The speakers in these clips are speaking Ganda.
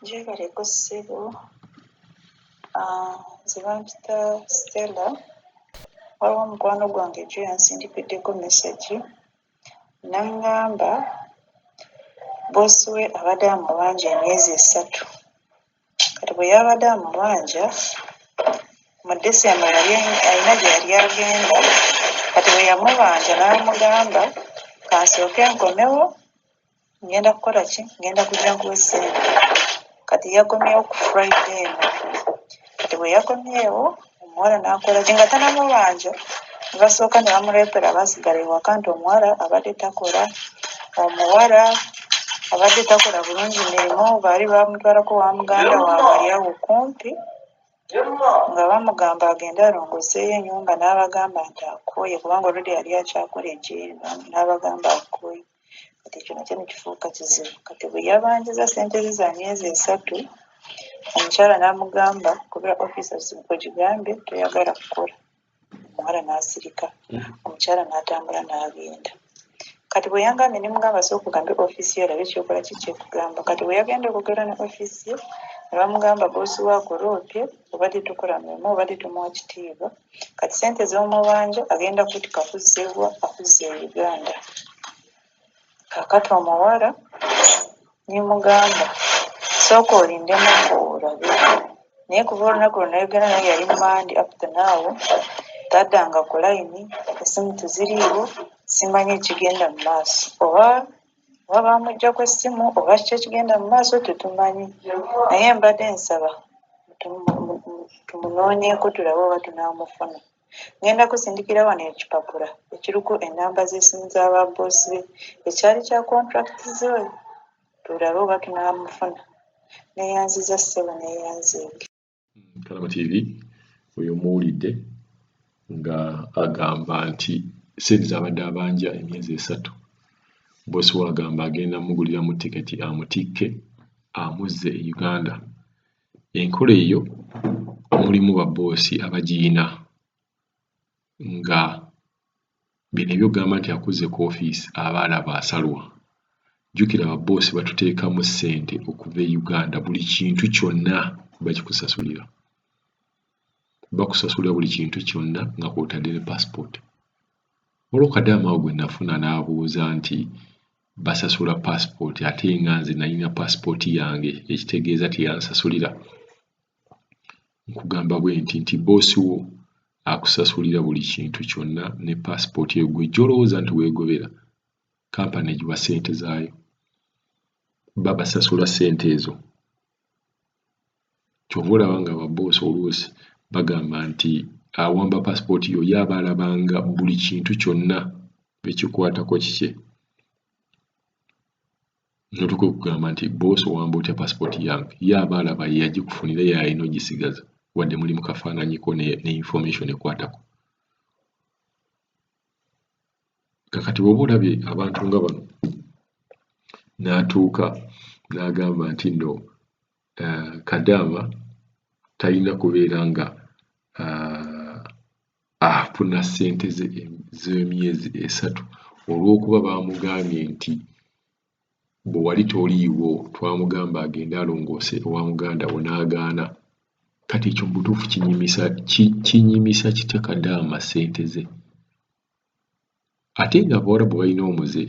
gyebaleko ssebo ah, nze bampita stella waliwo omukwano gwange jo yansindikiddeko mesagi nangamba bosi we abadde amubanja emyezi esatu kati bwe yabadde amubanja mu decemba yali alina gye yali agenda kati bwe yamubanja n'amugamba kansooke nkomewo ngenda kukola ki ngenda kujja nkuwe ssente kati yagumyewo ku friday eno kati bwe yagumyewo omuwala n'akola ki nga tanamubanja ne basooka ne bamuleetera baasigala ewaka nti omuwala abadde takola omuwala abadde takola bulungi mirimu baali bamutwalako wa muganda waabwe ali awo kumpi nga bamugamba agende alongoseeyo enyumba n'abagamba nti akooye kubanga oludi yali akyakola ekiiba n'abagamba akooye kati ekyo nakyo nekifuuka kizibu kati bweyabanjiza sente ze za myezi esatu omukyala namugamba kubira office ogigambye toyagala kukola omuwala nasirika omukyala natambula nagenda kati bweyangambye nemugamba so okugambe office yo olabe kyokola kiki ekugamba kati bweyagenda okugera ne office ye nebamugamba bosi wako roopye obadde tokola mulimu obadde tomuwa kitiibwa Kati sente zomubanja agenda kutuka kuzza ewa akuzze e Uganda kakati omuwala nemugamba sooka olindemuko olabe naye kuva olunaku lwenayogera naye yali mumandi up to now tadanga ku layini esimu teziriiwo simanyi ekigenda mumaaso oba oba bamujjako essimu oba kiki ekigenda mu maaso tetumanyi naye mbadde nsaba tumunoonyeeko tulabe oba tunaamufuna. Ngenda kusindikira wano ekipapula ekiriko ennamba z'essimu za babboosi be, ekyali kya kontulakiti ze tulabe oba tunaamufuna. Neeyanzizza ssebo, neeyanzege. kalaba tv oyo muwulidde nga agamba nti sente zabadde abanja emyezi esatu bosi we agamba agenda muguliramu tiketi amutikke amuzze e uganda enkola eyo mulimu baboosi abagiyina nga bino ebyogamba nti akuzze ku office aba alaba asalwa jukira ba boss batutekamu sente okuva e Uganda buli kintu kyonna bakikusasulira bakusasulira buli kintu kyonna nga kwotadde ne passport waliwo kadaama awo gwe nafuna n'abuuza nti basasula passport ate nga nze nalina passport yange ekitegeeza teyansasulira nkugamba bwenti nti boss wo akusasulira buli kintu kyonna ne passport eyo gwe jolowooza nti wegobera company egiwa sente zaayo babasasula sente ezo kyova olaba nga ababoss oluusi bagamba nti awamba passport yo yaba alabanga buli kintu kyonna ekikwatako kikye notuka okugamba nti boss owamba otya passport yange ye aba alaba yeyagikufunira ye alina ogisigaza wadde muli mukafaananyiko ne, ne information ekwatako kakati woba olabye abantu nga bano natuuka nagamba nti no uh, kadaama talina kubeera nga uh, afuna uh, sente z'emyezi esatu olw'okuba baamugambye nti bwe wali toliiwo twamugamba agende alongoose ewa muganda wo n'agaana kati ekyo mubutuufu kinyimisa kinyimisa kitya kadaama sente ze Ate nga abawarabu balina omuze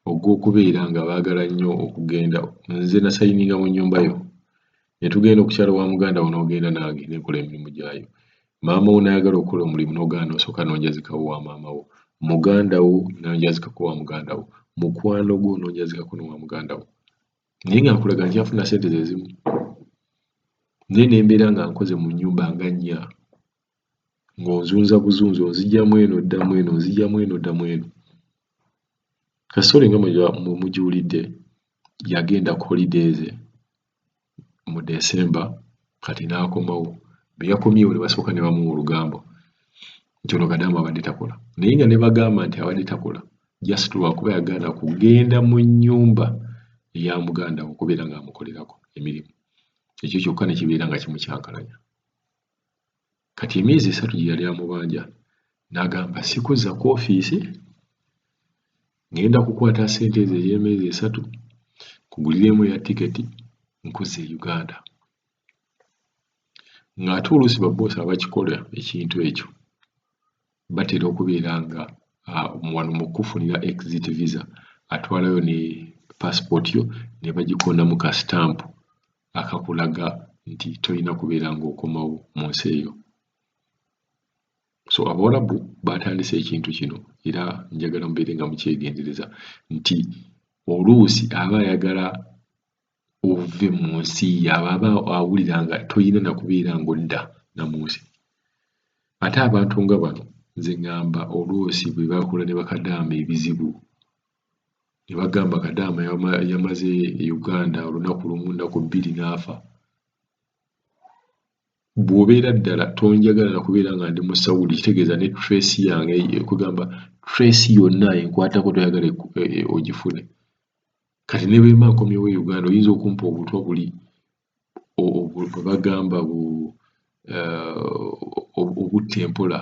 ogw'okubeera nga baagala nnyo okugenda nze nasayininga mu nnyumba yo ne tugenda okukyalo wa muganda wo n'ogenda nange ne nkola emirimu gyayo maama wo n'ayagala okukola omulimu n'ogaana n'osooka n'onjazikawo wa maama wo muganda wo n'onjazikako wa muganda wo mukwano gwo n'onjazikako n'owa muganda wo naye nga nkulaga nkyafuna sente ze zimu naye ne mbeera nga nkoze mu nnyumba nga nnya ng'onzunza buzunzi onzigya mu eno odda mu eno onzigya mu eno odda mu eno. Kasitole nga mwe mugiwulidde yagenda ku holiday ze mu Desemba kati n'akomawo bwe yakomyewo ne basooka ne bamuwa olugambo nti ono kadaama abadde takola naye nga ne bagamba nti abadde takola just lwakuba yagaana kugenda mu nnyumba eya muganda we okubeera ng'amukolerako emirimu ekyo kyokka ne kibeera nga kimukyankalanya. kati emyezi esatu gye yali amubanja n'agamba sikuzza ku ofiisi ngenda kukwata ssente ezo ey'emyezi esatu kugulireemu eya tiketi nkuzza e uganda ng'ate oluusi baboosi abakikola ekintu ekyo batera okubeera nga wano mu kufunira exit visa atwalayo ne passport yo ne bagikonamu ka stamp akakulaga nti tolina kubeera ng'okomawo mu nsi eyo so abawalabu baatandise ekintu kino era njagala mubeere nga mukyegendereza nti oluusi aba ayagala ove mu nsi yaaba aba awulira nga tolina nakubeera ng'odda na mu nsi ate abantu nga bano nze ŋŋamba oluusi bwe bakola ne bakadaama ebizibu ne bagamba kadaama yamaze e uganda olunaku lumu naku bbiri n'afa bw'obeera ddala tonjagala nakubeera nga ndi mu sawudi kitegeeza ne trace yange kugamba trace yonna enkwatako toyagala e, e, e, ogifune kati ne bwemba nkomyewo e uganda oyinza okumpa obutwa buli bwe bagamba bu eh, obutta empola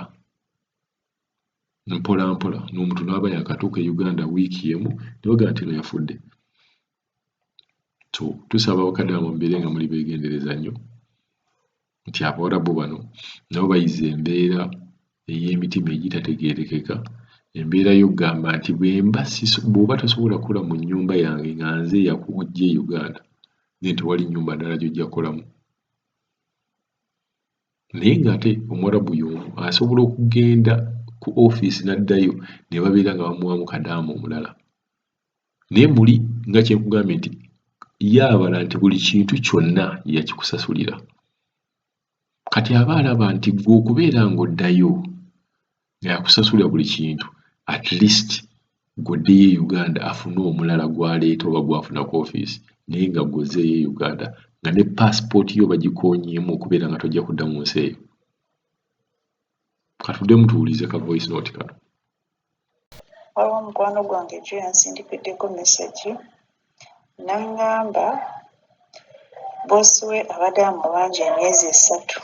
mpola mpola n'omuntu n'aba yakatuuka e Uganda wiiki emu ne bagamba nti no yafudde so tusaba abakadde abo mubeere nga muli beegendereza nnyo nti abawarabu bano nabo bayize embeera ey'emitima egitategeerekeka embeera y'okugamba nti bwemba bw'oba tosobola kukola mu nnyumba yange nga nze yakujja e Uganda then tewali nnyumba ndala gy'ojja kukolamu naye ng'ate Omwarabu y'omu asobola okugenda ku ofiisi n'addayo ne babeera nga bamuwaamu kadaama omulala naye muli nga kye nkugambye nti ye abala nti buli kintu kyonna yakikusasulira kati aba alaba nti gwe okubeera ng'oddayo Yakusasulira buli kintu at least gwe oddeyo e Uganda afune omulala gwaleeta oba gwafuna ku office naye nga gwe ozzeeyo e Uganda nga ne passport yo bagikonyeemu okubeera nga tojja kudda mu nsi eyo. Katudemu tuwulize ka voice note kano. Waliwo mukwano gwange jjo yansindikiddeko mesagi n'angamba boosi we abadde amubanja emyezi esatu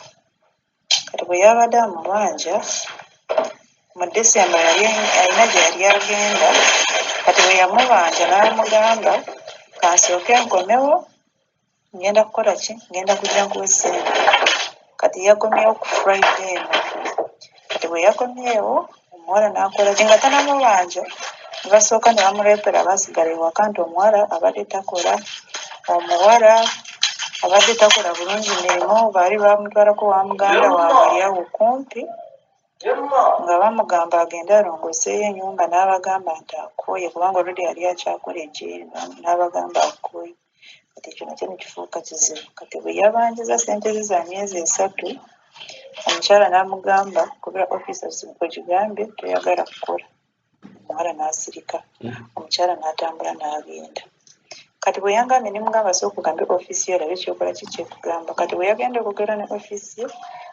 kati bwe yabadde amubanja mu December yali alina gye yali agenda kati bwe yamubanja n'amugamba kansooke nkomewo ngenda kukola ki ngenda kujja nkuwe ssente kati yakomyewo ku Friday eno kati bwe yakomyewo Omuwala n'akola ki? Nga tannamubanja ne basooka ne bamuleetera baasigala ewaka nti omuwala abadde takola. Omuwala abadde takola bulungi mirimu, baali baamutwalako wa muganda waabwe ali awo kumpi nga bamugamba agende alongoseeyo ennyumba n'abagamba nti akooye kubanga oludda yali akyakola egyeyo n'abagamba akooye. kati ekyo nakyo nekifuuka kizibu kati bweyabanjiza sente ze za myezi esatu omukyala namugamba kubera office ogigambye toyagala kukola omuwala nasirika omukyala natambula nagenda kati bweyangambye nemugamba so okugambe office yo olabe kyokola kiki ekugamba kati bweyagenda okugera ne office ye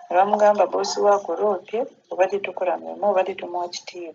nebamugamba bosi wo akuloopye obadde tokola mulimu obadde tomuwa kitiibwa